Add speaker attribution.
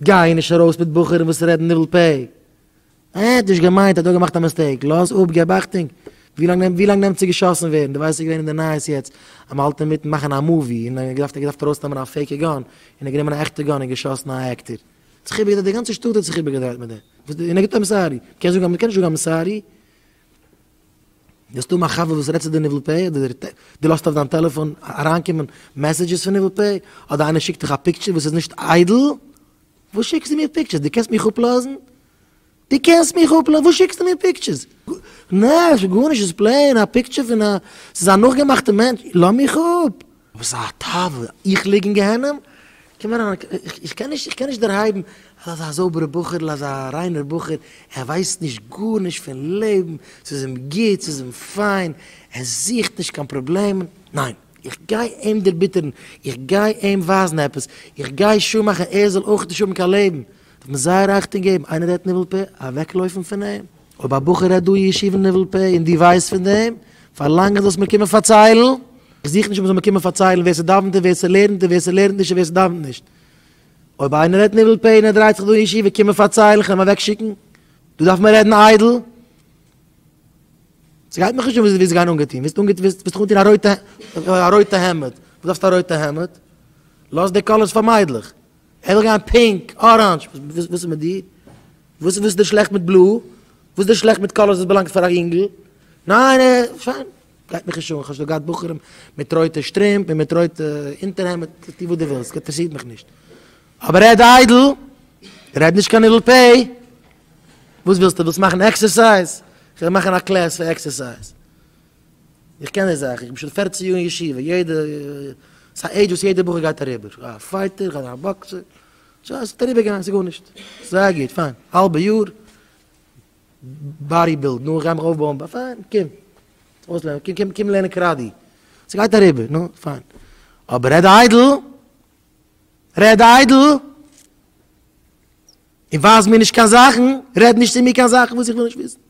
Speaker 1: גיי נישט ארויס מיט בחורים וואס רעדן ניבול פה, ער האט נישט געמיינט, ער האט נאר געמאכט א מיסטעיק, לאז אפ, געב אכטונג, ווי לאנג נעמט צו געשאסן ווערן, דו ווייסט ס'איז געווען אין די נייעס יעצט אז מ'האלט אינמיטן מאכן א מאווי און ער האט געדארפט געדארפט ארויסנעמען א פעיקע גאן און ער האט גענומען א עכטע גאן און געשאסן א עקטער, האט זיך איבערגעדרייט, די גאנצע שטאט האט זיך איבערגעדרייט מיט דעם, און ער גיבט איימסארי, מ'קען נישט זאגן איימסארי? דו האסט אן א חבר וואס רעדט צו די ניבול פה, אדער דו לאזט אויף דיין טעלעפאן אריינקומען מעסעדזשעס פון ניבול פה, אדער איינער שיקט דיך א פיקטשער וואס איז נישט איידל, וואס שיקסטו מיר פיקטשערס? דו קענסט מיך אפלאזן? דו קענסט מיך אפלאזן? וואס שיקסטו מיר פיקטשערס? נעשט גארנישט, ס'איז פלעין א פיקטשער פון א, ס'איז א נאכגעמאכטע מענטש, לאז מיך אפ! וואס איז א תאווה? איך ליג אין גיהנום? קום אריין, איך קען נישט, איך קען נישט דערהייבן, ער איז אזא זויבערע בחור'ל, אזא ריינער בחור, ער ווייסט נישט גארנישט פון לעבן, ס'איז אים גוט, ס'איז אים פיין, ער זוכט נישט קיין פראבלעמען, ניין, איך גיי אים דערביטערן, איך גיי אים ווייזן עפעס, איך גיי שוא מאכן ער זאל אויך נישט האבן קיין לעבן, דארף מען זייער אכטונג געבן, איינער רעדט ניבול פה, אוועקלויפן פון אים. אויב א בחור רעדט דא אין ישיבה אין ניבול פה און דו ווייסט פון דעם, פארלאנג אז זאלסט מיר קומען פארציילן. איך זוך נישט מען זאל מיר קומען פארציילן ווער ס'דאוונט און ווער ס'לערנט און ווער ס'לערנט נישט און ווער ס'דאוונט נישט. אויב איינער רעדט ניבול פה און ער דרייט זיך דא אין ישיבה קומען פארציילן, כ'וועל אים אוועקשיקן. דא דארף מען רעדן איידל. ס'גייט מיך נישט אן ווי זיי גייען אנגעטון. ווילסט אנגעטון ווילסט דיך אנטון א רויטע א רויטע העמד. וואס דארפסטו א רויטע העמד? לאז די קאלערס פאר מיידלעך. ער וויל גיין פינק, אראנדזש, וואס איז מיט דיר? וואס איז דיר שלעכט מיט בלוי? וואס איז דיר שלעכט מיט קאלערס וואס באלאנגט פאר א יונגל? ניין, פיין, גייט מיך נישט אן, כ'האב שוין געהאט בחורים מיט רויטע שטרימפ און מיט רויטע אונטערהעמד, טו וואס דו ווילסט, אינטערעסירט מיך נישט. אבער רעד איידל, רעד נישט קיין אידל פי. וואס ווילסטו, ווילסט מאכן עקסערסייז? כ'וועל מאכן א קלעס פאר עקסערסייז. איך קען די זאך, איך בין שוין פערצן יאר אין ישיבה, יעדע, ס'איז א עידזש וואס יעדע בחור גייט אריבער, כ'גיי א פייטער, כ'גיי זיין א באקסער, דזשאסט אריבער גיין, ס'איז גארנישט, זייער גוט, פיין, האלבע יאר, באדי בילד, נו, כ'גיי מיך אויפבויען, בה, פיין, קום, אויסלערנען, קום, קום, קום לערנען קראטי, ס'גייט אריבער, נו, פיין, אבער רעד איידל, רעד איידל, און ווייז מיר נישט קיין זאכן, רעד נישט צו מיר קיין זאכן וואס איך וויל נישט וויסן.